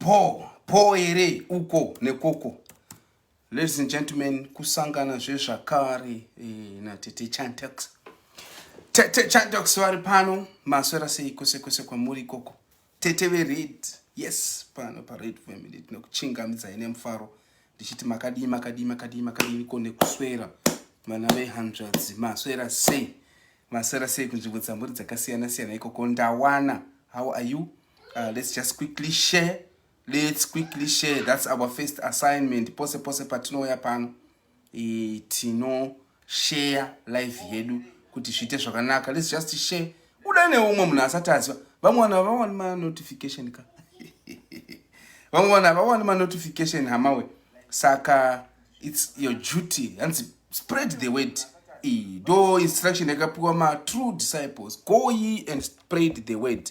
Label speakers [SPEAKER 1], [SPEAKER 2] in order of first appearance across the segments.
[SPEAKER 1] bho bho here uko nekoko ladies and gentlemen kusangana zvezvakare eh, natete chantax tete chantax vari pano maswera sei kwese kwese kwamuri ikoko tete vered yes pano pared family tinokuchingamidzai nemufaro ndichiti makadii makadii makadii makadii ko nekuswera vana vehanzvadzi maswera sei Maswera sei kunzvimbo dzamuri dzakasiyana siyana ikoko ndawana how are you uh, let's just quickly share let's quickly share that's our first assignment pose pose patinouya pano e, tino share live yedu kuti zviite zvakanaka let's just share kudai neumwe munhu asati aziva vamwe vanhu havawani manotification ka vamwe vanhu havawani manotification hamawe saka its your duty hanzi spread the word iyi ndo instruction yakapiwa matrue disciples go ye and spread the word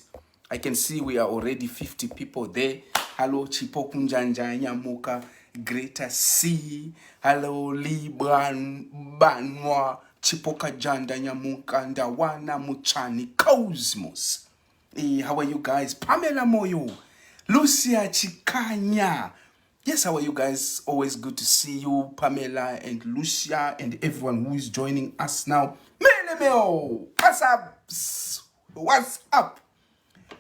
[SPEAKER 1] i can see we are already 50 people there hallo chipo kunjanja nyamuka greater c hallo libanwa chipo kajanda nyamuka ndawana muchani cosmos e, how are you guys pamela moyo lucia chikanya Yes, how are you guys? Always good to see you, Pamela and Lucia and everyone who is joining us now. Melemeo, what's up? What's up?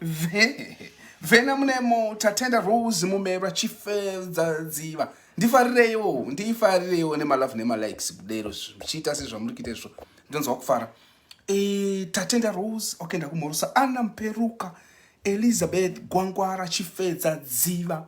[SPEAKER 1] Vena munemo tatenda Rose mumera chifedza dziva. Ndifarireyo, ndifarireyo nemalove nemalikes kudero zvichiita sezvamuri kuita izvo. Ndonzwa kufara. E, tatenda Rose, okay ndakumhorosa. Anna Mperuka, Elizabeth Gwangwara chifedza dziva.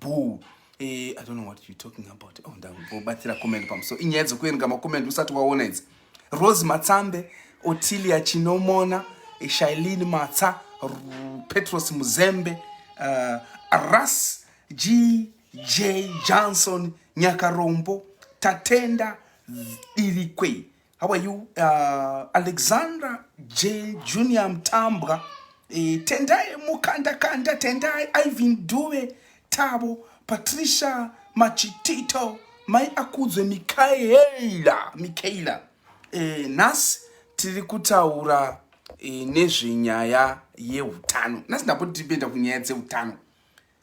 [SPEAKER 1] boo eh, i don't know what you're talking about oh ndakubatsira comment pamusoro inyaya dzokuerenga makomenti usati waona idzi rose matsambe otilia chinomona eh, shailin matsa petros muzembe uh, ras g j johnson nyakarombo tatenda dirikwei How are you? Uh, Alexandra J. Junior Mtambwa. E, Tendai Mukanda Kanda, Tendai Ivan Due, Tabo, Patricia Machitito, Mai Akudzwe Mikaela, Mikaela. E, eh, nhasi tiri kutaura e, nezvenyaya yeutano. Nhasi ndapoti tiri kuenda kunyaya dzeutano.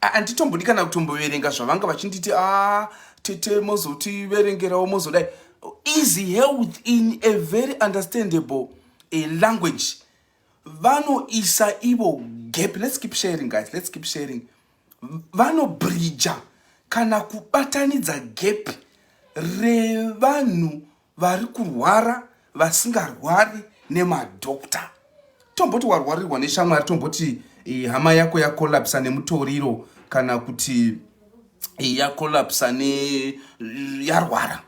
[SPEAKER 1] handitombodi kana kutomboverenga zvavanga vachinditi a ah, tete mozotiverengerawo mozodai is held in a very understandable a language vanoisa ivo gap let's keep sharing guys let's keep sharing vanobridja kana kubatanidza gap revanhu vari kurwara vasingarwari nemadokta tomboti warwarirwa neshamwari tomboti eh, hama yako yakolapsa nemutoriro kana kuti eh, yakolapsa ne eh, yarwara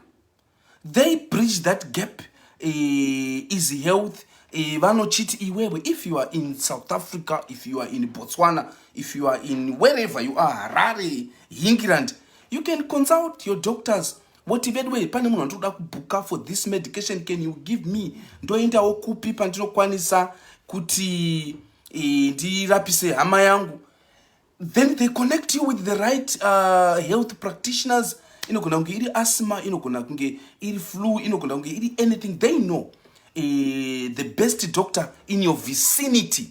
[SPEAKER 1] they bridge that gap eh, is health eh, vanochiti iwewe if you are in south africa if you are in botswana if you are in wherever you are harare hingiland you can consult your doctors voti veduwei pane munhu andikuda kubhuka for this medication can you give me ndoendawo kupi pandinokwanisa kuti e, ndirapise hama yangu then they connect you with the right uh, health practitioners inogona kunge iri asma inogona kunge iri flu inogona kunge iri anything they know e, the best doctor in your vicinity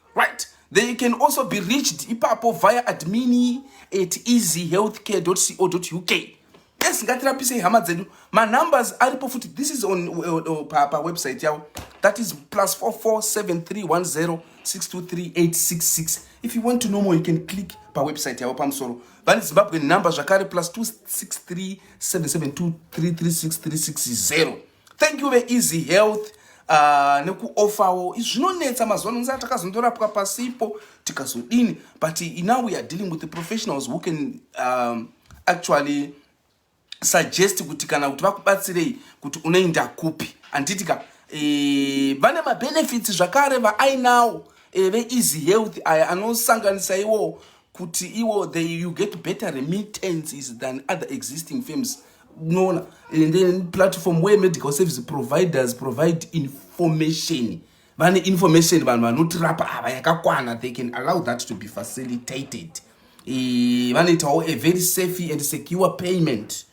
[SPEAKER 1] right they can also be reached ipapo via admini at easyhealthcare.co.uk yes ngatirapisei hama dzedu manumbers aripo futi this is on uh, pawebsite yavo that is plus 44731062386 if you want to know more you can click pawebsite yavo pamusoro vane zimbabwe number zvakare plus 263772336360 thank you veeasy health uh, nekuofawo zvinonetsa mazuva ano nzaa takazondorapwa pasipo tikazodini but now we are dealing with the professionals who can um, actually suggest kuti kana kuti vakubatsirei kuti unoinda kupi handiti ka e, vane mabenefits zvakare vaainawo e, eh, veeasy health aya anosanganisa iwo kuti iwo they, you get better remittances than other existing firms unoona and then platform where medical service providers provide information vane information vanhu vanotirapa ava yakakwana they can allow that to be facilitated e, vanoitawo a very safe and secure payment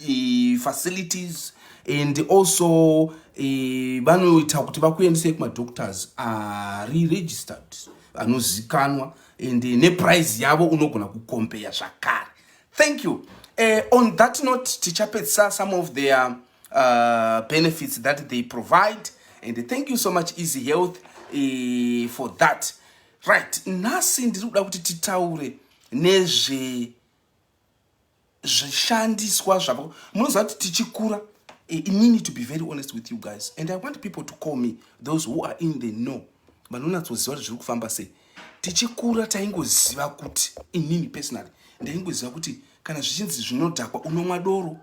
[SPEAKER 1] e, facilities and also e, vanoita kuti vakuendesei kumadoctors ari registered anozikanwa and neprice yavo unogona kukombeya zvakare thank you uh, on that note tichapedzisa some of their uh, benefits that they provide and thank you so much easy health uh, for that right nhasi ndiri kuda kuti titaure nezve zvishandiswa zvavo munoziva kuti tichikura eh, inini to be very honest with you guys and i want people to call me those who are in the know vanonatsoziva kuti zviri kufamba sei tichikura taingoziva kuti inini personally ndaingoziva kuti kana zvichinzi zvinodhakwa unomwa doro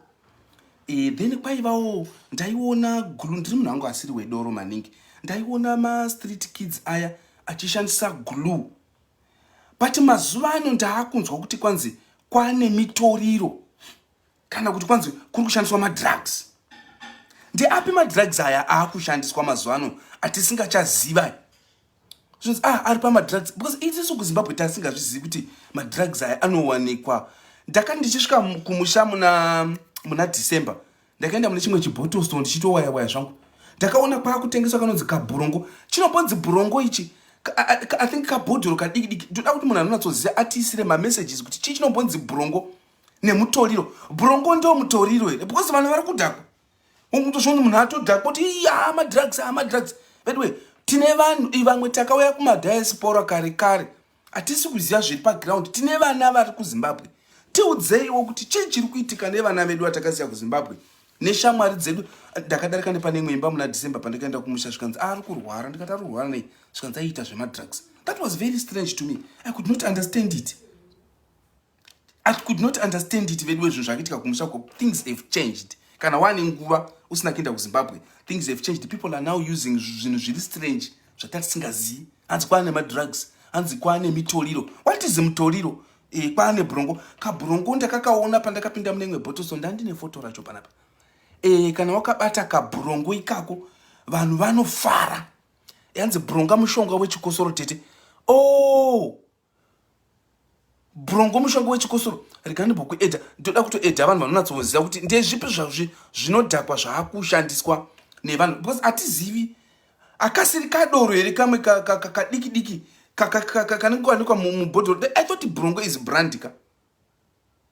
[SPEAKER 1] e, then kwaivawo ndaiona gulu ndiri munhu angu asiri wedoro maningi ndaiona mastreet kids aya achishandisa glue but mazuva ano ndaakunzwa kuti kwanzi kwane mitoriro kana kuti kwanzi kuri kushandiswa madrugs ndeapi madrugs aya aakushandiswa mazuva ano atisingachaziva zvinzi ah ari pamadrugs because itisu kuzimbabwe tasingazvizivi kuti madrugs aya anowanikwa ndakati ndichisvika kumusha muna muna december ndakaenda mune chimwe chibottle store ndichitowaya waya zvangu ndakaona kwakutengeswa kanonzi kabhurongo chinombonzi bhurongo ichi i think kabhodhoro kadiki diki ndoda kuti munhu anonatsoziva atiisire mamessages kuti chii chinombonzi bhurongo nemutoriro brongo ndo mutoriro here because vanhu vari kudhakwa ungutozvoni munhu atodhakwa kuti iya madrugs amadrugs veduwe tine vanhu ivamwe takauya kumadiaspora kare kare hatisi kuziva zviri paground tine vana vari kuzimbabwe tiudzeiwo kuti chii chiri kuitika nevana vedu vatakasiya kuzimbabwe neshamwari dzedu ndakadarika nepane imwe imba muna december pandakaenda kumusha zvikanzi ari kurwara ndikati ari kurwara nei zvikanzi aiita zvemadrugs that was very strange to me i could not understand it I could not understand it veduwe zvinhu zvakiitika kumusha ko things have changed kana wane nguva usina kuenda kuzimbabwe things have changed people are now using zvinhu zviri strange zvatatisingazivi hanzi kwaane madrugs hanzi kwaane mitoriro what is mutoriro e, eh, kwaane brongo kabrongo ndakakaona pandakapinda mune imwe botoso ndandine foto racho panapa e, kana wakabata kabrongo ikako vanhu vanofara yanzi bronga mushonga wechikosoro tete o oh! brongo mushonga wechikosoro rega ndimbokuedha ndoda kutoedha vanhu vanonatsoziva kuti ndezvipi zvazvi zvinodhakwa zvaakushandiswa nevanhu because hatizivi akasiri kadoro here kamwe kadiki diki kanenge kawanikwa mubhodhoro i thought brongo is brandika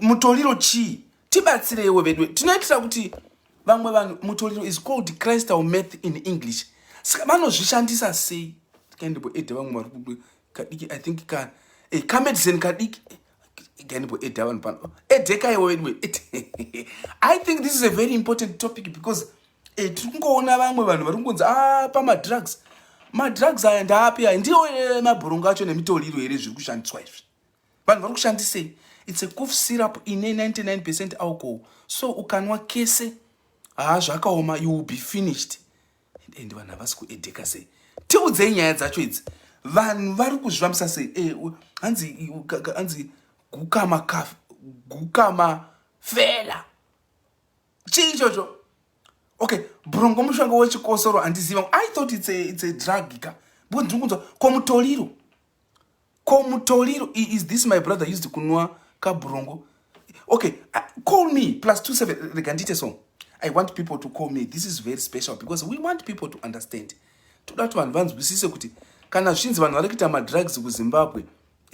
[SPEAKER 1] mutoriro chii tibatsireiwo veduwe tinoitira kuti vamwe vanhu mutoriro is called christal math in english saka vanozvishandisa sei kaindibo ede vamwe vari kudu kadiki i think ka e eh, kamedicine kadiki kaindibo eh, ede vanhu pano edekaiwo veduwe i think this is a very important topic because e tiri kungoona vamwe vanhu vari kungonzi a ah, pamadrugs madrugs aya ndaapi aya ndiwo mabhurongo acho nemitoriro here zviri kushandiswa izvi vanhu vari kushandisei its a cof syrup ine 99 percent alcohol so ukanwa kese haa zvakaoma you will be finished and vanhu havasi kuedheka sei tiudzei nyaya dzacho idzi vanhu vari kuzvifambisa sei eh, hanzi hanzi gukama ka gukama fela chii chocho okay brongo mushonga wechikosoro handiziva i thought it's a, it's a drug ka because ndiri kunzwa ko mutoriro Ko Mutoliro, is this my brother used kunwa kabrongo? Okay, uh, call me plus 27 rega ndiite so. I want people to call me. This is very special because we want people to understand. Toda kuti vanhu vanzwisise kuti kana zvinzi vanhu vari kuita madrugs kuZimbabwe,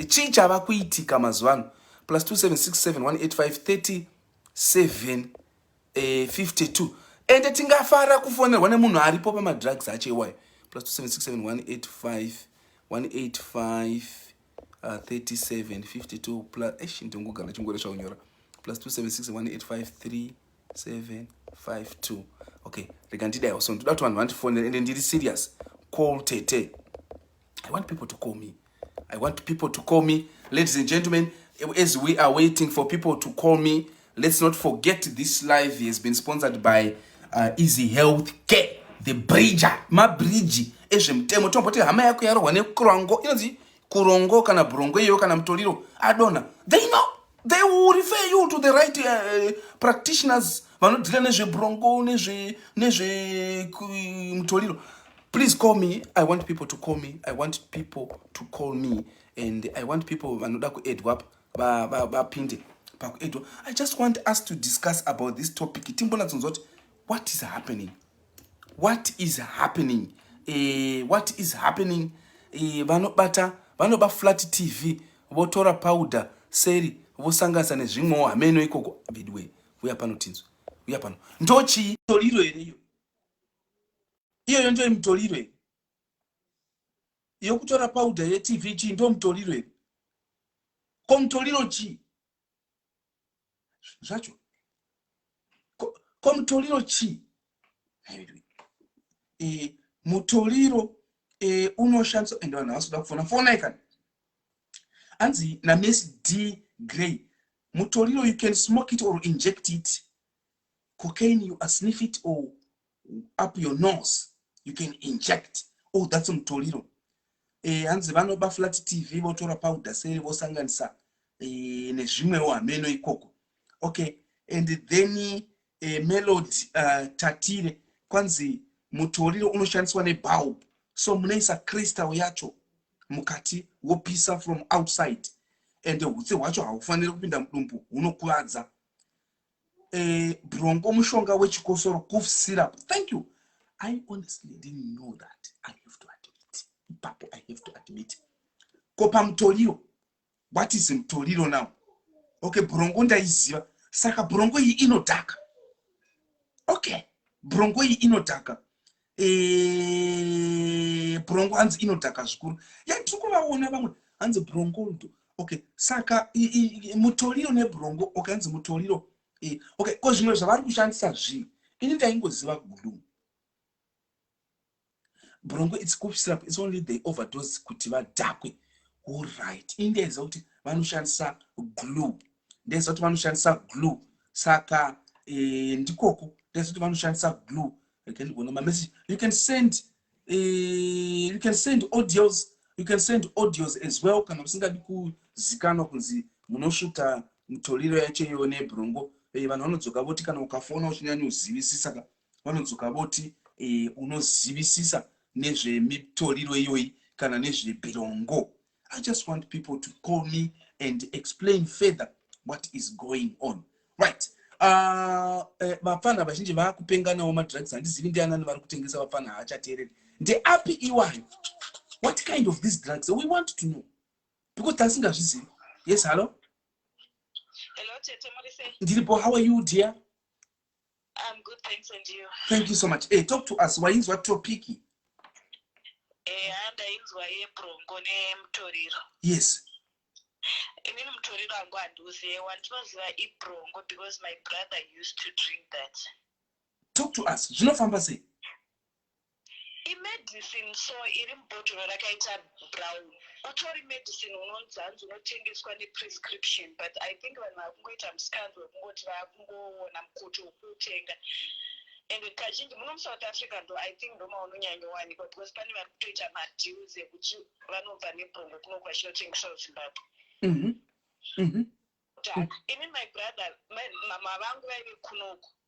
[SPEAKER 1] chii chava kuitika mazuva ano? Plus 27671853 7 eh, 52 ende tingafara kufonerwa nemunhu aripo pamadrugs acho iwayo plus 27671851853752 ndingogara chingore chaunyora plus 2767185372 okay rega ndidaiwa so ndoda kuti vanhu vandifonere ende ndiri serious call tete I want people to call me. I want people to call me. Ladies and gentlemen, as we are waiting for people to call me, let's not forget this live has been sponsored by uh, Easy Health Care, the bridger, ma bridge ezvemutemo tomboti hama yako yarohwa nekurongo inonzi kurongo kana brongo iyeyo kana mutoriro adona they know they will refer you to the right uh, practitioners vanodhila nezvebrongo nezvemutoriro please call me i want people to call me i want people to call me and i want people vanoda kuedwa vapinde pakuedwa i just want us to discuss about this topic timbonatsonzwa kuti what is happening what is happening eh, what is happening eh, vanobata vanoba flat tv votora powder seri vosanganisa nezvimwewo hameno ikoko veduwe uya pano tinzwe uya pano ndochii toriro here iyo iyoyo ndoye mutoriro here yokutora powder yetv chii ndo mutoriro here ko mutoriro chii zvacho ko mutoriro chii eh, mutoriro eh, unoshandiswa ende vanhu havasi kuda kufona fonai kana hanzi names d grey mutoriro you can smoke it or inject it cocaine you are sniff it or up your nose you can inject oh that's mutoriro eh, hanzi vanoba flat tv votora powder seri vosanganisa eh, nezvimwewo hameno ikoko okay and then eh, melod uh, tatire kwanzi mutoriro unoshandiswa nebulb so munoisa crystal yacho mukati wopisa from outside and hutsi hwacho haufaniri kupinda mudumbu hunokuvadza eh, bronco mushonga wechikosoro cough syrup thank you i honestly didn't know that i have to admit ipapo i have to admit ko pamutoriro what is mutoriro now okay bronco ndaiziva saka bronco iyi inodhaka okay bronco iyi inodhaka eh, brongo hanzi inodhaka zvikuru ya tiri kuvaona vamwe hanzi brongo ndo okay saka mutoriro nebrongo okay hanzi mutoriro eh, okay ko zvimwe zvavari kushandisa zvii ini ndaingoziva gulu brongo its cough syrup its only the overdose kuti vadhakwe orit ini ndaiziva kuti vanoshandisa glue ndaiziva kuti vanoshandisa glue saka eh, ndikoko ndaiziva kuti vanoshandisa glue I can't go no my message. You can send uh, you can send audios you can send audios as well kana musingadi kuzikanwa kunzi munosvuta mitoriro yacho iyoyo nebrongo eh, vanhu vanodzoka voti kana ukafona uchinyanya uzivisisa ka vanodzoka voti eh, unozivisisa nezvemitoriro iyoyi kana nezvebrongo I just want people to call me and explain further what is going on. Right. Ah, eh, vapfana uh, vazhinji vakupenganawo madrugs handizivi ndianani vari kutengesa vapfana haachateereri ndeapi iwayo what kind of these drugs we want to know because tasingazvizivi yes hallo ndiripo
[SPEAKER 2] how are you
[SPEAKER 1] dear I'm
[SPEAKER 2] good, thanks and you. Thank you so much. Hey, eh, talk
[SPEAKER 1] to us. Wainzwa topiki? Eh,
[SPEAKER 2] ndainzwa yebrongo nemutoriro. Yes. Inini mutoriro wangu handiuzive wandinoziva ibrongo because my brother used to drink that. Talk to
[SPEAKER 1] us. Zvinofamba sei? Imedicine
[SPEAKER 2] so iri mubhotoro rakaita brown utori medicine unonzi hanzi unotengeswa ne prescription but I think vanhu vakungoita mskando wekungoti vakungoona mkoto wekuutenga ende kazhinji muno muSouth Africa ndo I think ndomaunonyanyowanikwa because pane vari kutoita ma deals ekuti vanobva nebhongo kunoku vachinotengesawo Zimbabwe mm-hmm. Mm-hmm. Ini my brother mama vangu vaive kunoku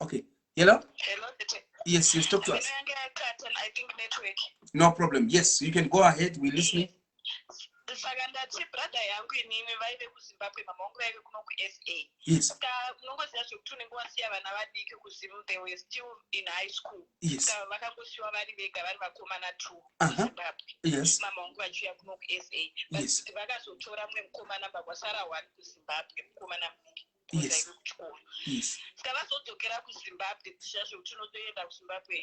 [SPEAKER 1] okay hello hello
[SPEAKER 2] yes yes
[SPEAKER 1] talk to
[SPEAKER 2] us no problem yes
[SPEAKER 1] you can go ahead we listening saka
[SPEAKER 2] ndati brother yangu inini vaive kuzimbabwe mama wangu vaive kuno kusa ska
[SPEAKER 1] unongoziva
[SPEAKER 2] zvekuti unenge wasiya vana vadiki kuzim they were still in high school ska vakangosiwa
[SPEAKER 1] vari
[SPEAKER 2] vega vari vakomana two kuzimbabwe mama wangu
[SPEAKER 1] vachiuya kuno
[SPEAKER 2] kusa but vakazotora
[SPEAKER 1] mumwe
[SPEAKER 2] mukomana bva kwasara one kuzimbabwe mukomana mudiki
[SPEAKER 1] yes. kuchikoro yes. ska vazodzokera
[SPEAKER 2] kuzimbabwe dzishasho kuti unotoenda kuzimbabwe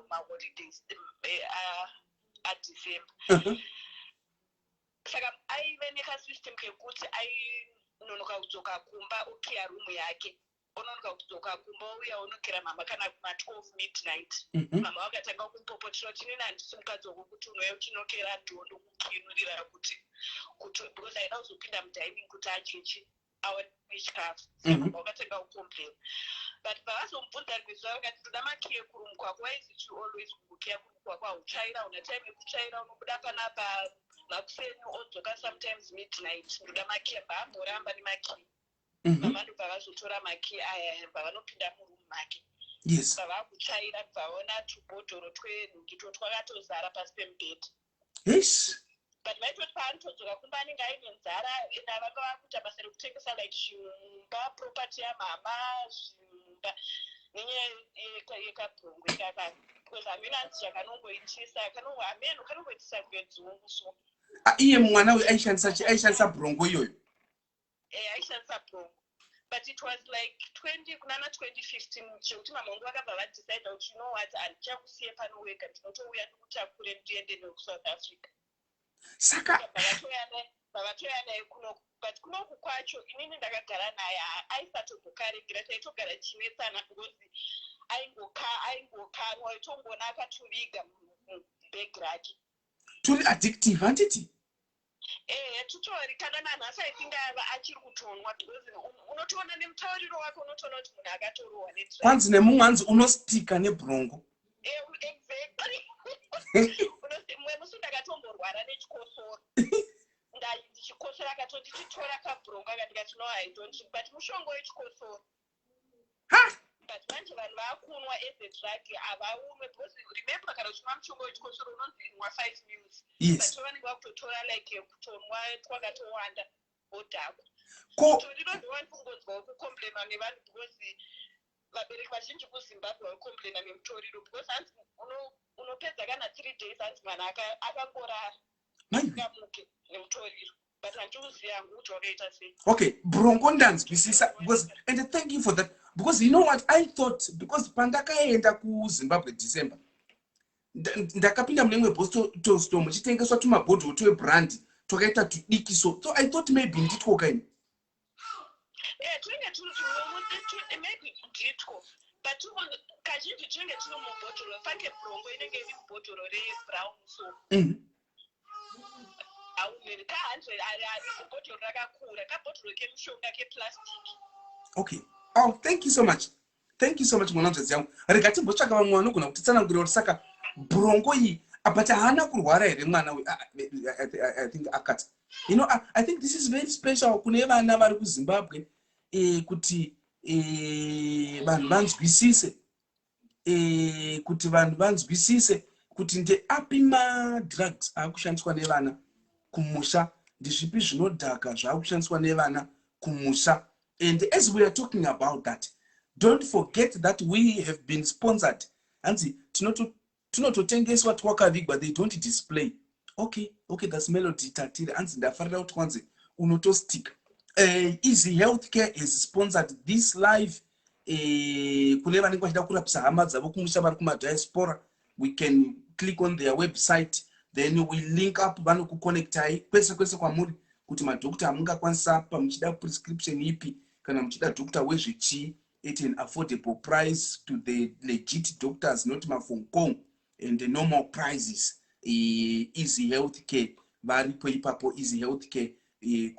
[SPEAKER 2] maholidays eh, ah, adecember uh-huh. saka aive nekasystem kekuti ainonoka kudzoka kumba okiya rumu yake ononoka kudzoka kumba ouya onokira mama kana kuma 12 midnight mhm. mama vakatanga kumpopotera kuti nini handisi mukadzi wako kuti unouya uchinokira ndiwo ndokukinurira kuti kuti because aida kuzopinda mudining kuti achechi chikafu mhm. saka vakatenga kucomplain but pavazomubvunza rimwe zuva vakati ndoda makiye kuri mukwako waiziti always kukiya kuri mukwako hautsvaira una time yekutsvaira unobuda panapa makuseni odzoka sometimes midnight ndoda makiye mbaamboramba nemakiye mhm. mama ndo pavazotora makiye aya pavanopinda murumu make
[SPEAKER 1] pavakutsvaira
[SPEAKER 2] pavaona tubhodhoro twenhukito twakatozara pasi pemubhedha yes
[SPEAKER 1] but maitoti
[SPEAKER 2] paanotodzoka kumba anenge aine nzara and ava vava kuita basa rekutengesa like zvinhu mumba property yamama zvinhu mumba nenyaya yekabhongo ikaka because hameno anzi chakanongoitisa kanongo hameno kanongoitisa kunge dzungu so ah, iye mwana
[SPEAKER 1] uyu aishandisa aishandisa bhongo iyoyo eh, aishandisa
[SPEAKER 2] brongo but it was like 20 kunana 2015 zvekuti mama vangu vakabva vadecide kuti you know what handichakusiye pano wega ndinotouya ndikutakure ndiende newe kusouth africa saka vavatoya naye kunoku but kunoku kwacho inini ndakagara naye aisatogokaregera taitogara chinetsana because aingokanwa aitongoona akatoviga mubhegi rake turi
[SPEAKER 1] addictive handiti Ehe
[SPEAKER 2] tutori kana nanhasi I think aiva achiri kutonwa because unotoona nemutauriro wake unotoona kuti munhu akatorohwa ne drug. Kwanzi nemumwe anzi
[SPEAKER 1] unostika nebrongo. Eh,
[SPEAKER 2] exactly. Mwe musi ndakatomborwara nechikosoro. Ndai ndichikosora akatonditi tora kabrongo akandikati no I don't but mushonga wechikosoro. but manje vanhu vakunwa as a drug havaunwe because remember kana uchinwa mushonga wechikosoro unonzi inwa five mils but vanenge
[SPEAKER 1] vakutotora
[SPEAKER 2] like kutonwa twakatowanda wodhakwa so ndinonzi wani kungonzwawo kucomplaina nevanhu because vabereki vazhinji kuzimbabwe vakucomplaina nemutoriro because hanzi unopedza kana three days hanzi mwana akangorara asikamuke nemutoriro okay brongo
[SPEAKER 1] ndanzwisisa because and thank you for that because you know what i thought because pandakaenda kuzimbabwe december ndakapinda mune imwe bostolsto muchitengeswa tumabhodhol twebrandi twakaita tudikiso so i thought maybe nditwo kaini Eh, twinge
[SPEAKER 2] turi tunomuti twi- maybe nditwo but tuno- kazhinji twinge turi mubhotoro fange brongo inenge iri mubhotoro rebrown so Mhm. hauneri ka hundred ari ariko bhotoro
[SPEAKER 1] rakakura kabhotoro kemushonga keplastic okay oh thank you so much thank you so much mwana nzvadzi yangu rega timbotsvaka vamwe vanogona kutitsanangurira kuti saka brongo iyi but haana kurwara here mwana uyu ah, i think akat you know i think this is very special kune vana vari kuzimbabwe eh, kuti eh, vanhu vanzwisise eh, kuti vanhu vanzwisise kuti ndeapi madrugs aakushandiswa nevana kumusha ndizvipi zvinodhaka zvaakushandiswa nevana kumusha and as we are talking about that don't forget that we have been sponsored hanzi tinototengeswa twakavigwa they don't display okay okay thats melody tatiri hanzi ndafarira kuti kwanzi unotostika uh, eh, easy health care has sponsored this live uh, kune vanenge vachida kurapisa hama dzavo kumusha vari kumadiaspora we can click on their website then we link up vanokuconnectai kwese kwese kwamuri kuti madhokta amungakwanisa apa muchida prescription ipi kana muchida dhokta wezvechii at an affordable price to the legit doctors not mafong kong and the normal prices easy health care varipo ipapo easy health care eh,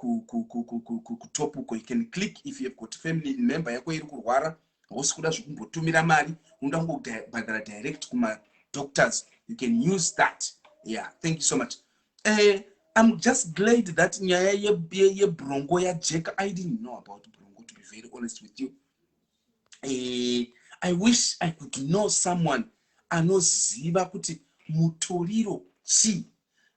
[SPEAKER 1] kutop uko you can click if you have got family member yako iri kurwara hausi kuda zvekumbotumira mari unoda kungobhadhara direct kumadoctors you can use that yeah thank you so much uh, i'm just glad that nyaya yebrongo yajeka i didn't know about brongo to be very honest with you eh, i wish i could know someone anoziva kuti mutoriro chii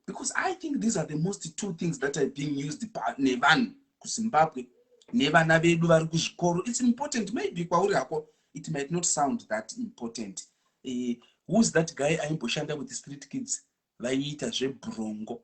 [SPEAKER 1] because i think these are the most two things that are being used nevanhu kuzimbabwe nevana vedu vari kuzvikoro its important maybe kwauri hako it might not sound that important uh, who's that guy aimboshanda with street kids vaiita zvebrongo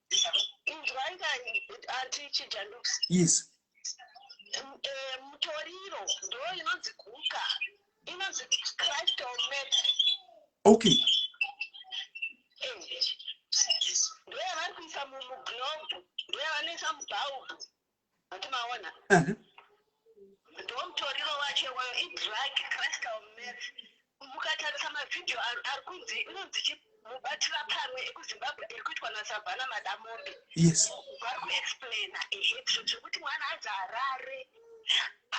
[SPEAKER 1] inzwai ka anti chijanduks yes eh,
[SPEAKER 2] mutoriro ndo inonzi guka inonzi christ or met okay
[SPEAKER 1] eh,
[SPEAKER 2] ndoyavari kuisa mumuglobe ndoyavanoisa mubhaubhu maona ndomutoriro wacho iwayo idrag crystal meth mukatarisa mavhidhiyo ari kunzi inonzi chi mubatira pamwe ekuzimbabwe iri kuitwa nasavhana madamombe vari
[SPEAKER 1] kuexplaina
[SPEAKER 2] ehetso zvekuti mwana anzi harare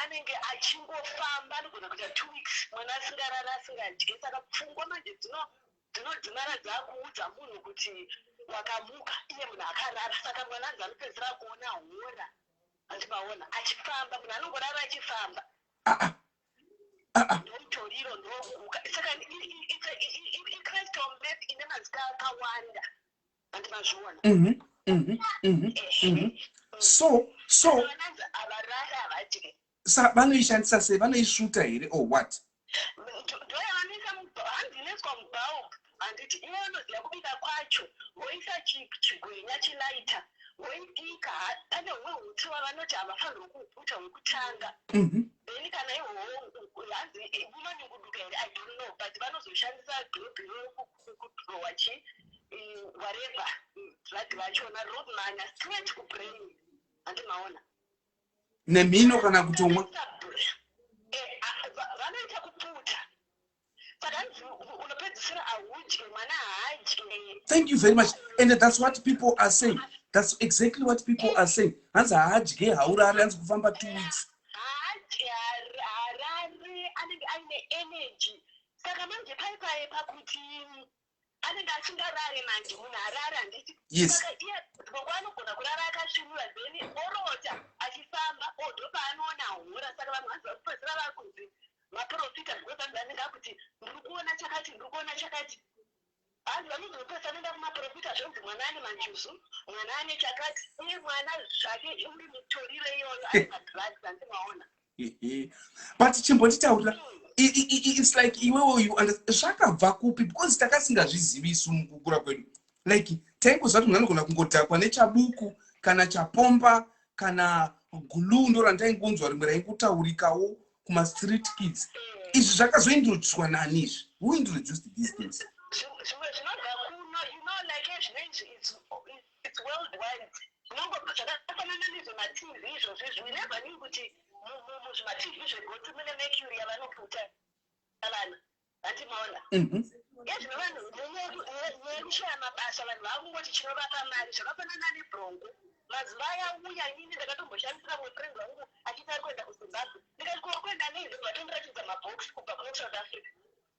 [SPEAKER 2] anenge achingofamba anogona kuita two weeks mwana asingarari asingadye saka pfungwa manje dzino Dzinodimara dzakuudza munhu kuti wakamuka iye munhu akarara saka mwana anzi anopedzisira kuona hora hanzi maona achifamba munhu anongorara achifamba Aa. Aa. ndomutoriro ndokuka saka i- i- i- it's a- i- i- i- crystal map ine mazita akawanda hanzi mazviona Mhm. Mhm. Mhm. Mhm.
[SPEAKER 1] So so vananzi havarari havadye Sa vanoishandisa sei vanoisvuta here or what? Ndoyavanoisa hanzi
[SPEAKER 2] inoiswa mubulb handiti iye anoziva kubika kwacho voisa chigwenya chilaita voibika pane humwe huti wavanoti havafanirwa kuuputa wekutanga mhm. then kana ihoho hanzi vanoninguduka here i don't know but vanozoshandisa globe yokudrowa chi whatever drug vachona rodmana straight kubrain handimaona
[SPEAKER 1] nemhino kana kutomwa thank you very much and that's what people are saying that's exactly what people are saying hanzi haadye haurari hanzi kufamba two weeks
[SPEAKER 2] anenge asingarare manje munhu arare handiti saka iye
[SPEAKER 1] gogo
[SPEAKER 2] anogona kurara akasvinura then orota achifamba odo paanoona hora saka vanhu vanzi vakupedzira vari kunzi maprofita because vanhu vanenge akuti ndiri kuona chakati ndiri kuona chakati hanzi vanozopesa anoenda kumaprofita zvonzi mwana ane manjuzu mwana ane chakati uye mwana zvake uri mitoriro iyoyo ari madrugs handimwaona
[SPEAKER 1] but chimbonditaurira it's like iwewo you understand zvakabva kupi because takasingazvizivi isu mukukura kwedu like taingoziva kuti munhu anogona kungodhakwa nechabuku kana chapomba kana guluu ndo randaingonzwa rimwe raingutaurikawo kumastreet kids izvi zvakazointroducwa nani izvi who introduced these things
[SPEAKER 2] It's world wide zvinongobva zvakafanana nezve ma TV izvozvo izvi we never knew kuti muzvima TV zvegotsi mune mercury yavanoputa vana hanti maona mhm. ezvino vanhu nekushaya mabasa vanhu vakungoti chinovapa mari zvakafanana nebrongo mazuva aya uya inini ndakatomboshandisira mwe friend wangu achiti ari kuenda kuzimbabwe ndikati kuokuenda nei ndobva tondiratidza mabhox kubva kune south africa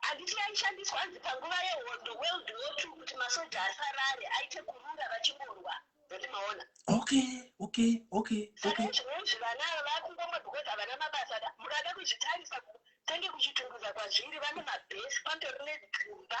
[SPEAKER 2] Handiti yaishandiswa hanzi panguva yehondo World War Two kuti masoja asarare aite kurura vachingorwa. Don't maona. Okay, okay,
[SPEAKER 1] okay. Saka okay. izvinozvi
[SPEAKER 2] vana ava vakungomwa because havana mabasa da. Mukada kuzvitarisa tenge kuchitunguza kwazviri vane mabhesi patori nedzimba.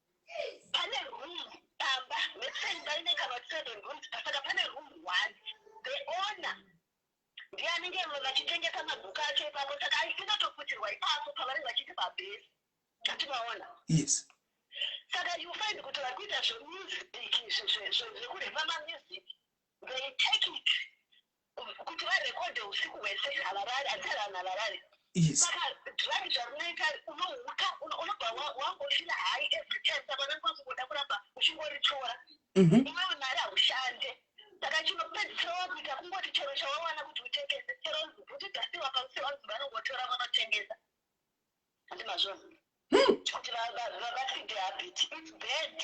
[SPEAKER 2] Pane room pamba let's say imba ine kana seven rooms pasaka pane room one the owner ndiye anenge vachitengesa mabhuku acho ipapo saka aisingatoputirwa ipapo pavanenge vachiti pabhesi ati vaona yes
[SPEAKER 1] saka
[SPEAKER 2] you find kuti vari kuita zvemusic zvekurepa mamusic they take it kuti varekodhe usiku hwese havarari asi vanhu havarari saka drug zvarunoita unohuka unobva wangofila hai every time saka unenge wakungoda kuramba uchingoritora mhm. iwewe mari haushande saka chinopedzisira wakuita kungoti chero chawawana kuti utengese chero bhuti dhasiwa pamusiro vanzi vanongotora vanotengesa handi mazvona hmm. kuti vavaside habit its bad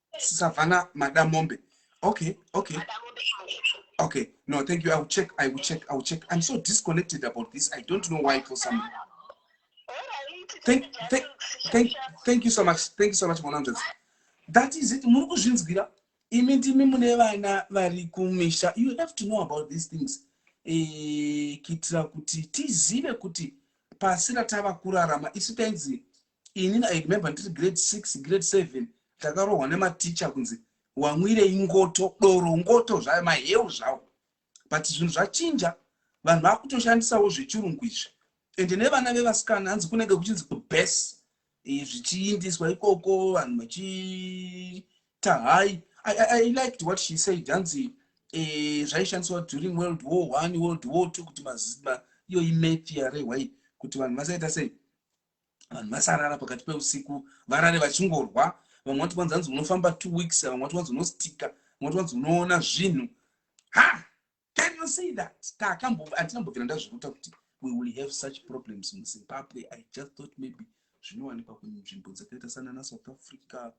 [SPEAKER 1] savana madamombe okay okay okay no thank you i will check i will check i will check i'm so disconnected about this i don't know why for some thank, thank, thank, thank you so much thank you so much monandres that is it muri kuzvinzwira imi ndimi mune vana vari kumisha you have to know about these things eh, kuitira kuti tizive kuti pasi ratava kurarama isu tainzi ini i remember ndiri grade six grade seven takarohwa nematicha kunzi wamwirei ngoto doro ngoto zvayo maheu zvawo but zvinhu zvachinja vanhu vakutoshandisawo zvechirungu izvi ende nevana vevasikana hanzi kunenge kuchinzi kubes eh, zvichiindiswa ikoko vanhu vachiita hai i liked what she said hanzi eh, zvaishandiswa during world war one world war two kuti mazima iyoyi mafia rehwai kuti vanhu vasaita sei vanhu vasarara pakati peusiku varare vachingorwa vamwe vati kwanzi hanzi unofamba two weeks vamwe vati kwanzi unostika vamwe vati kwanzi unoona zvinhu ha can you say that takamboandinambobvira ndazviruta kuti we will have such problems muzimbabwe i just thought maybe zvinowanikwa kunzvimbo dzakaita sanana south africa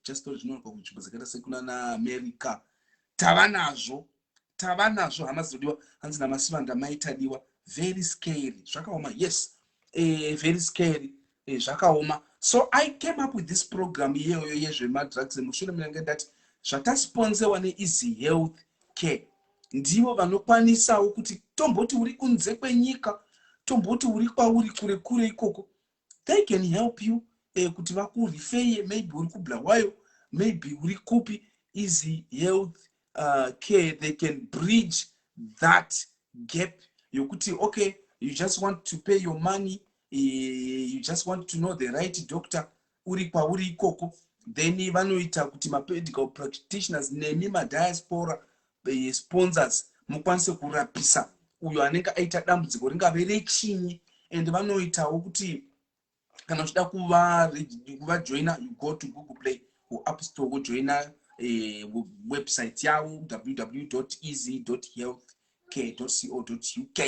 [SPEAKER 1] chesitori zvinowanikwa kunzvimbo dzakaita sekunana america tava nazvo tava nazvo hama dzinodiwa hanzi namasivanda maitadiwa very scary zvakaoma yes eh, very scary eh, zvakaoma so i came up with this program iyeyoyo yezvemadrugs emushure munenge ndati zvatasponzewa neeasy health care ndivo vanokwanisawo kuti tomboti uri kunze kwenyika tomboti uri kwauri kure kure ikoko they can help you uh, kuti vakurifeye maybe uri kubulawayo maybe uri kupi easy health uh, care they can bridge that gap yokuti okay you just want to pay your money uh, you just want to know the right doctor uri kwauri ikoko then vanoita kuti mapedical practitioners nemi madiaspora eh, sponsors mukwanise kurapisa uyo anenge aita dambudziko ringave rechinyi and vanoitawo kuti kana uchida kuvajoina you go to google play or app store wojoina eh, website yavo www easy health care co uk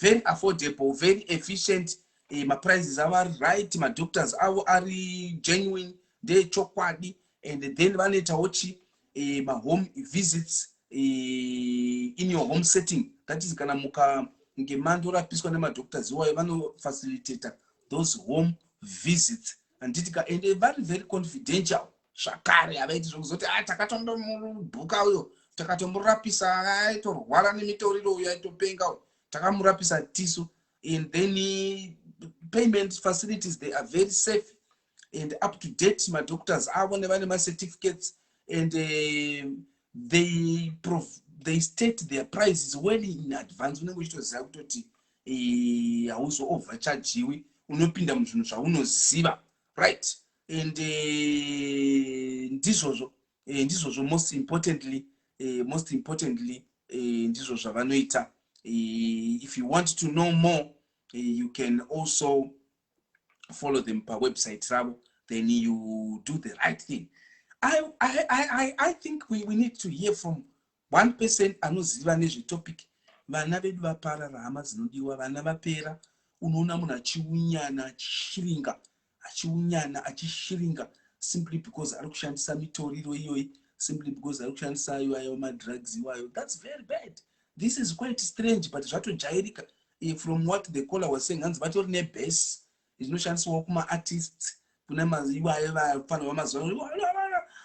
[SPEAKER 1] very affordable very efficient eh, maprices avo ari right madoctors avo ari genuine ndeechokwadi and then vanoitawo chi eh, mahome visits eh, in your home setting that is kana muka ngemando rapiswa nemadoctors iwayo vanofacilitator those home visits handiti ka and vari very confidential zvakare havaiti zvekuzoti a ah, takatondomubhuka uyo takatomurapisa aitorwara nemitoriro uyo aitopenga uyo takamurapisa tisu and then payment facilities they are very safe and up to date madoctors avo nevane macertificates and uh, they, prov they state their prices well in advance unenge uchitoziva kutoti eh, hauzoovhachajiwi uh, unopinda muzvinhu zvaunoziva right and uh, ndizvozvo e, ndizvozvo most importantly e, most importantly e, ndizvo zvavanoita e, if you want to know more e, you can also follow them pawebsite ravo then you do the right thing I, I, I, I think we, we need to hear from One person anoziva nezve topic vana vedu vaparara hama dzinodiwa vana vapera unoona munhu achiunyana achishiringa achiunyana achishiringa simply because ari kushandisa mitoriro iyoyi simply because ari kushandisa iwayo madrugs iwayo thats very bad this is quite strange but zvatojairika eh, from what the caller was saying hanzi vatori nebase Zvinoshandiswawo kuma artists kune maiwaye vapfanha vamazuva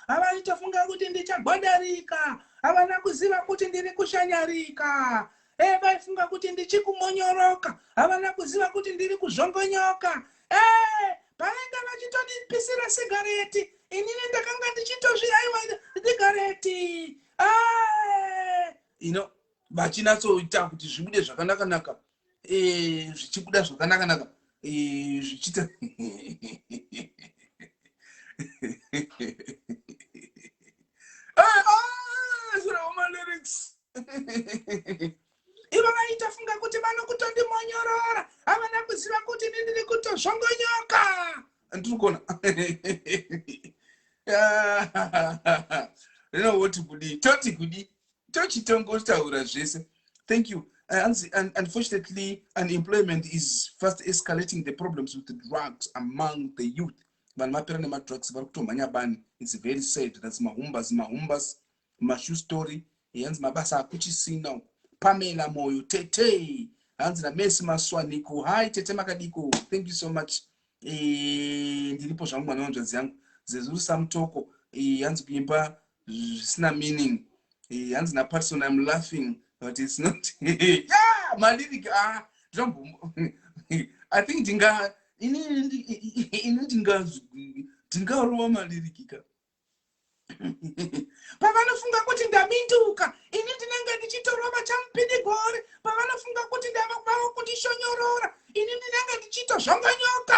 [SPEAKER 1] havaita funga kuti ndichagwadarika havana kuziva kuti ndiri kushanyarika e vaifunga kuti ndichikumonyoroka havana kuziva kuti ndiri kuzvongonyoka e pavainge vachitonipisira sigareti inini ndakanga ndichitozviaiwa sigareti you know vachinatsoita kuti zvibude zvakanakanaka eh, zvichibuda zvakanaka naka eh, zvichiita ivo vaita funga kuti vanokutondimonyorora havana kuziva kuti ini ndiri kutozvongonyoka ndiri kuona rino woti kudii toti kudii tochitongotaura zvese thank you hanzi uh, unfortunately unemployment is fast escalating the problems with the drugs among the youth vanhu vapera nemadrugs vari kutomhanya bani its very sad thats mahumbas mahumbas mashu story hanzi mabasa akuchisina uku pamela moyo tete hanzi namesi maswaniko hi tete makadiko thank you so much eh, ndiripo zvangu mwana wanzvadzi yangu zezuru samutoko eh, hanzi kuimba zvisina meaning eh, hanzi na patson im laughing but its not yeah, maliric ah, i think ndinga ini ndinga ndingarowa maliric ka pavanofunga kuti ndaminduka ini ndinenge ndichitorova chamupidigori pavanofunga kuti ndavakuvavo kundishonyorora ini ndinenge ndichiito zvongonyoka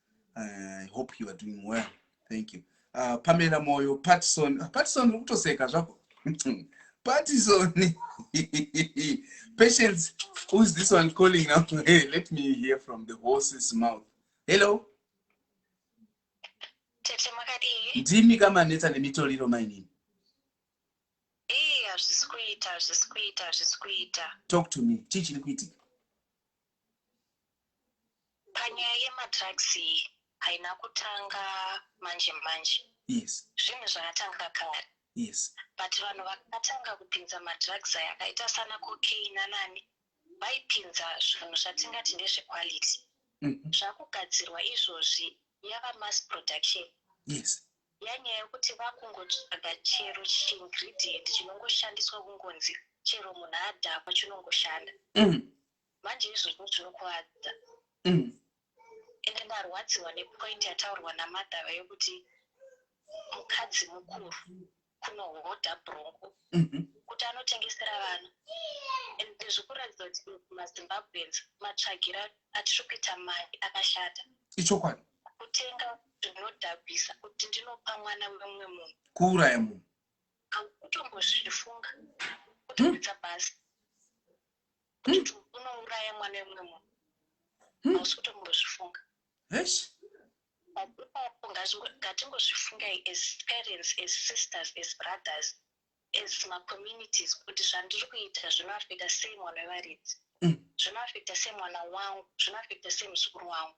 [SPEAKER 1] uh, hope you are doing well thank you uh, pamela moyo patison ah, patison uri kutoseka zvako patison patience whois this one calling now hey, let me hear from the horses mouth hello ndimi kamanetsa nemitoriro mainini hazvisi kuita hazvisi kuita hazvisi kuita talk to me chii chiri kuitika
[SPEAKER 2] Panyaya yemadrugs iyi haina kutanga manje
[SPEAKER 1] manje. Yes.
[SPEAKER 2] Zvinhu zvakatanga kare. Yes.
[SPEAKER 1] But vanhu
[SPEAKER 2] vakatanga kupinza madrugs aya akaita sana cocaine anani vaipinza zvinhu zvatingati ndezvequality. Mm -hmm. Zvakugadzirwa izvozvi yava mass production. Yes.
[SPEAKER 1] Yanyaya yekuti
[SPEAKER 2] vakungotsvaga chero chiingredient chinongoshandiswa kungonzi chero munhu adhakwa chinongoshanda. Mm. Manje izvozvo zvinokuvadza. Mm. Ende ndarwadziwa nepoint yataurwa namadhara yokuti mukadzi mukuru kunohodha brongo mm -hmm. kuti anotengesera vana and ndizvi kuratidza kuti mazimbabweans matsvagira atiri kuita mari akashata ichokwadi
[SPEAKER 1] kutenga
[SPEAKER 2] zvinodhabhisa kuti ndinopa mwana wemumwe munhu kuuraya munhu
[SPEAKER 1] akutombozvifunga
[SPEAKER 2] kutokuita hmm. basi Muntu unouraya mwana wemumwe munhu. Hmm. Hausi kutombozvifunga.
[SPEAKER 1] Yes. Ipapo
[SPEAKER 2] ngatingozvifungai as parents, as sisters, as brothers, as macommunities kuti zvandiri kuita zvinoafekta sei mwana wevaridzi. Hmm. Zvinoafekta sei mwana wangu, zvinoafekta sei muzukuru wangu.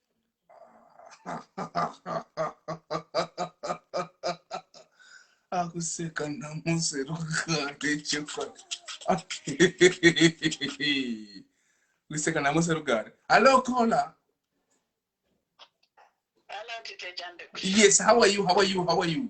[SPEAKER 1] akuseka namusi rugare chokwadi kuseka namusi rugare hallo caller
[SPEAKER 2] Hello, Tite Jambe. yes how are you how
[SPEAKER 1] are you how are you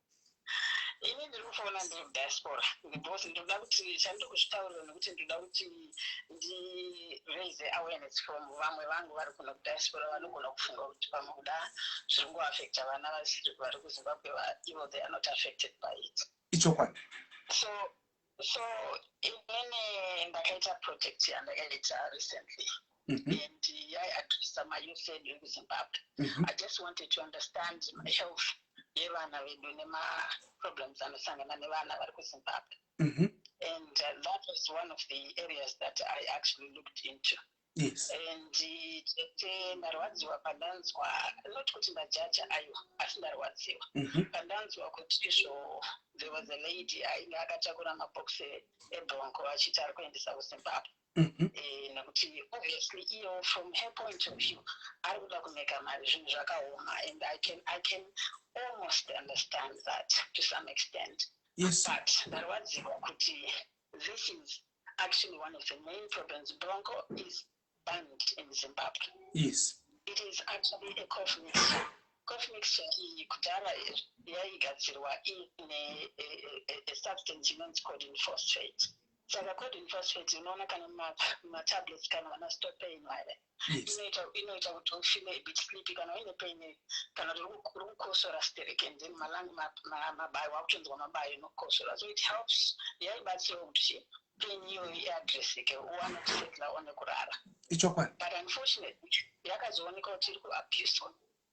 [SPEAKER 2] ini ndiri kufoona ndiri kudiaspora because ndoda kuti chandiri kuzvitaurira nekuti ndoda kuti ndiraise awareness from vamwe vangu vari kuno kudiaspora vanogona kufunga kuti pamwe kuda zviri ngoaffecta vana vasiri vari kuzimbabwe ivo they are not affected by it ichokwadi
[SPEAKER 1] so
[SPEAKER 2] so inini ndakaita project yandakaita recently mm -hmm. and yaiadressa mayouth edu ekuzimbabwe mm -hmm. i just wanted to understand my health yevana vedu nemaproblems anosangana nevana vari kuzimbabwe mm -hmm. and uh, that was one of the areas that i actually looked into yes. and tete ndarwadziwa pandanzwa not kuti ndajaja ayo asi ndarwadziwa mm -hmm. pandanzwa kuti izvo there was a lady ainge akatakura mabox ebronco achiti ari kuendesa kuzimbabwe mm -hmm. e, nekuti obviously iyo from her point of view ari kuda kumeka mari zvinhu zvakaoma and i can, I can almost understand that to some extent yes. but
[SPEAKER 1] ndarwadziwa
[SPEAKER 2] kuti this is Actually, one of the main problems, Bronco is banned in Zimbabwe. Yes.
[SPEAKER 1] It is actually
[SPEAKER 2] a cough mixture. Cough mixture iyi kudhara yaigadzirwa ine a substance inonzi codeine phosphate. Saka codeine phosphate unoona kana matablets kana vana stopain vaya inoita kuti ufile a bit sleepy kana uine pain kana kuti rikukosora sterek and then malangi mabayo wakutonzwa mabayo inokosora so it helps yaibatsirawo kuti pain iyoyo iadresseke uwane kusetla one kurara ichokwadi but unfortunately yakazooneka kuti iri kuabuswa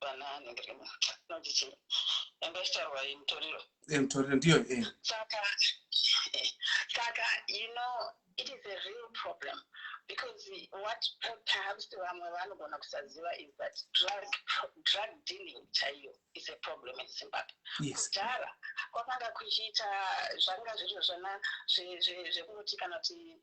[SPEAKER 2] vana anenge rima noti chii yanga ichitaurwa iyi mutoriro eh, mutoriro ndiyo eh. saka eh, saka you know it is a real problem because what perhaps vamwe vanogona kusaziva is that drug, drug dealing chaiyo is a problem in zimbabwe kudhara kwakanga kuchiita zvanga zviri zvana zvekunoti kana kuti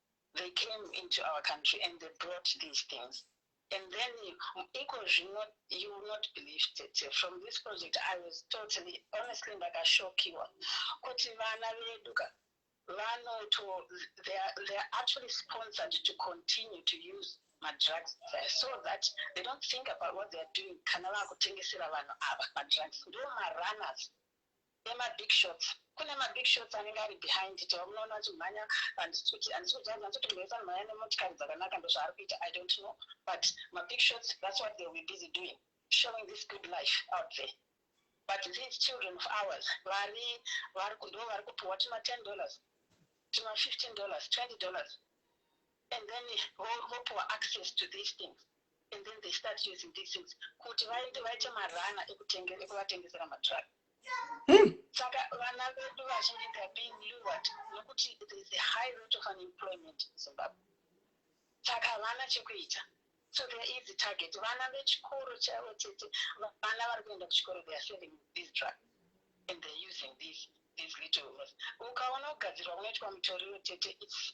[SPEAKER 2] they came into our country and they brought these things and then iko zvino you will not believe tete from this project i was totally honestly ndakashokiwa kuti vana vedu ka vanoto they are, they are actually sponsored to continue to use madrugs there so that they don't think about what theyare doing kana vakutengesera vanhu ava madrugs ndo marunners Kune ma big shots kune ma big shots anenge ari behind it vamunoona vachimhanya handisi kuti handisi kuziva hanzi vanoti munhu wese anomhanya nemotikari dzakanaka ndozvaari kuita i don't know but ma big shots that's what they will be busy doing showing this good life out there but these children of ours vari vari ndo vari kupiwa tuma 10 dollars tuma 15 dollars 20 dollars and then vopiwa access to these things and then they start using these things kuti vaende vaite marana ekuvatengesera matruck hmm. saka vana vedu vazhinji theyare being lured nokuti thereis a high rate of unemployment in zimbabwe saka havana chekuita so there is a target vana vechikoro chavo chete vana vari kuenda kuchikoro they are selling these drug and theyare using these these little ukaona kugadzirwa kunoitwa mutoriro tete its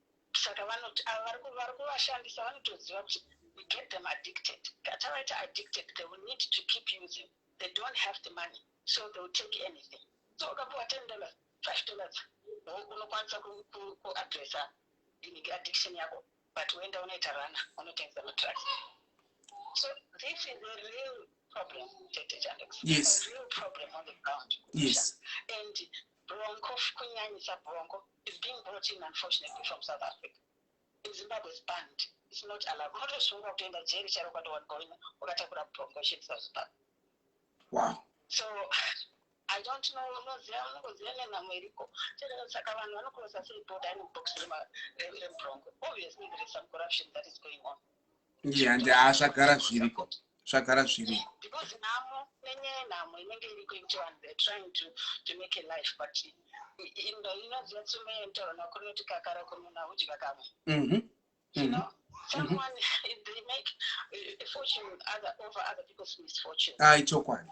[SPEAKER 2] Saka vanoti ava vari ku- vari kuvashandisa vanotoziva kuti we get them addicted. Ka- Tavaita addicted, they will need to keep using. They don't have the money, so they will take anything. So ukapuwa 10 dollars, 5 dollars, wo- unokwanisa ku- ku- kuaddressa inenge addiction yako, but woenda unoita rana, unotengesa madrugs. So this is a real problem, Tete Jandex. Yes. A
[SPEAKER 1] real problem
[SPEAKER 2] on the ground. Yes.
[SPEAKER 1] And
[SPEAKER 2] Bronco kunyanyisa bronco is being brought in unfortunately from South Africa. In Zimbabwe is banned. It's not allowed. Unotosungwa kutoenda jeri chero ukatowanikwa uine wakatakura bronco shit South Zimbabwe.
[SPEAKER 1] Wow.
[SPEAKER 2] So I don't know unoziva unongoziva nenhamo iriko. Chero saka vanhu vanokurosa sei boda in box rema- re- rebronco. Obviously there is some corruption that is going on. yeah, and ah,
[SPEAKER 1] zvagara zviriko zvagara zviriko because
[SPEAKER 2] nhamo nenye nhamo inenge iriko into vanhu they're trying to, to make a life but indo inoziva tsume yentaona kunoti kakara kununa udya kamwe mm-hmm. you mm-hmm. know someone mm-hmm. they make a fortune other, over other people's misfortune ah ichokwadi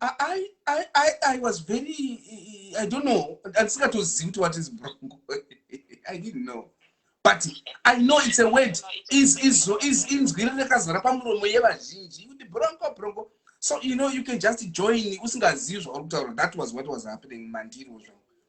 [SPEAKER 1] I, I, I, I was very, I don't know, andisingatozivi kuti what is brongo. I didn't know. But I know it's a word, is, is, is, inzwi rekazara pamuromo yevazhinji, kuti brongo, brongo. So, you know, you can just join, usingazivi zvauri kutaura, that was what was happening mandiri ozvo.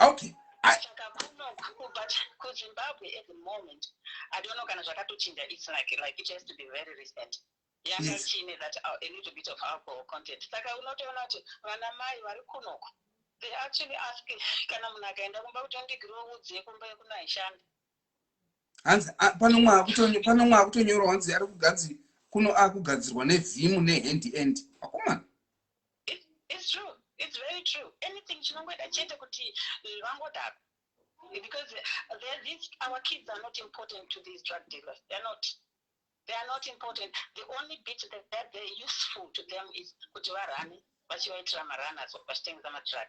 [SPEAKER 2] okay
[SPEAKER 1] saka
[SPEAKER 2] kuno kubva kuzimbabwe at the moment i don't know kana zvakatochinja its like like it has to be very recent yakachine that uh, a little bit of alcohol content saka unotoona kuti vana mai vari kunoko they actually ask kana munhu akaenda kumba kuti ndigiroudze kumba yekuno haishandi hanzi pano mwa akutonyorwa hanzi ari kuganzi kuno akugadzirwa nevim nehand end akomana It's true. It's very true. Anything chinongoita chete kuti vangodaro because they're these our kids are not important to these drug dealers they're not they are not important the only bit that, that they're useful to them is kuti varane vachivaitira maranas vachitengesa madrug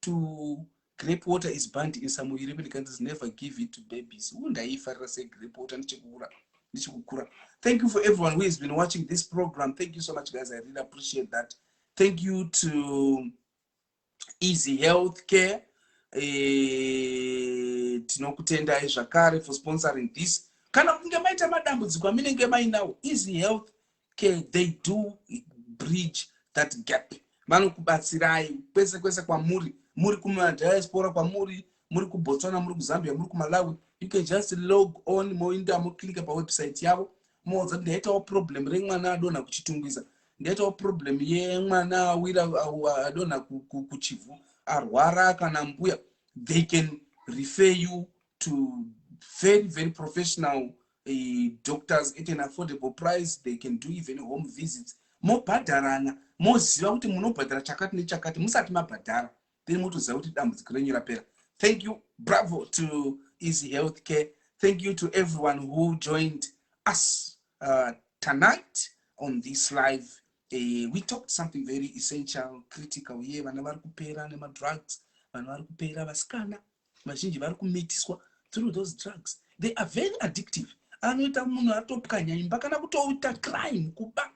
[SPEAKER 1] to grape water is banned in some european countries never give it to babies u ndaiifarira se grape water ndichikura ndichikukura thank you for everyone who has been watching this program thank you so much guys i really appreciate that thank you to easy health care eh, tinokutendai zvakare for sponsoring this kana kunge maita madambudziko aminenge mainawo easy health okay they do bridge that gap vanokubatsirai kwese kwese kwamuri muri kumadiaspora kwamuri muri kubotswana muri kuzambia muri kumalawi you can just log on moinda moclike pawebsite yavo moudza kuti ndaitawo problem remwana adonha kuchitungwiza ndaitawo problem yemwana awira adonha kuchivhu arwara kana mbuya they can refer you to very very professional uh, doctors at an affordable price they can do even home visits mobhadharana moziva kuti munobhadhara chakati nechakati musati mabhadhara then motoziva kuti dambudziko renyu rapera thank you bravo to easy health care thank you to everyone who joined us uh, tonight on this live uh, we talked something very essential critical ye vana vari kupera nemadrugs vanhu vari kupera vasikana vazhinji vari kumitiswa through those drugs they are very addictive anoita munhu atopwanya imba kana kutoita crime kuba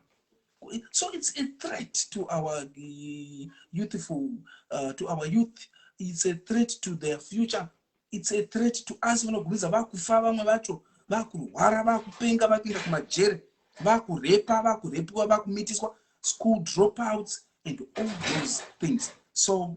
[SPEAKER 1] so it's a threat to our uh, youthful uh, to our youth it's a threat to their future it's a threat to us vanogumidza vakufa vamwe vacho vakurwara vakupenga vakuenda kumajere vakurepa vakurepiwa vakumitiswa school dropouts and all those things so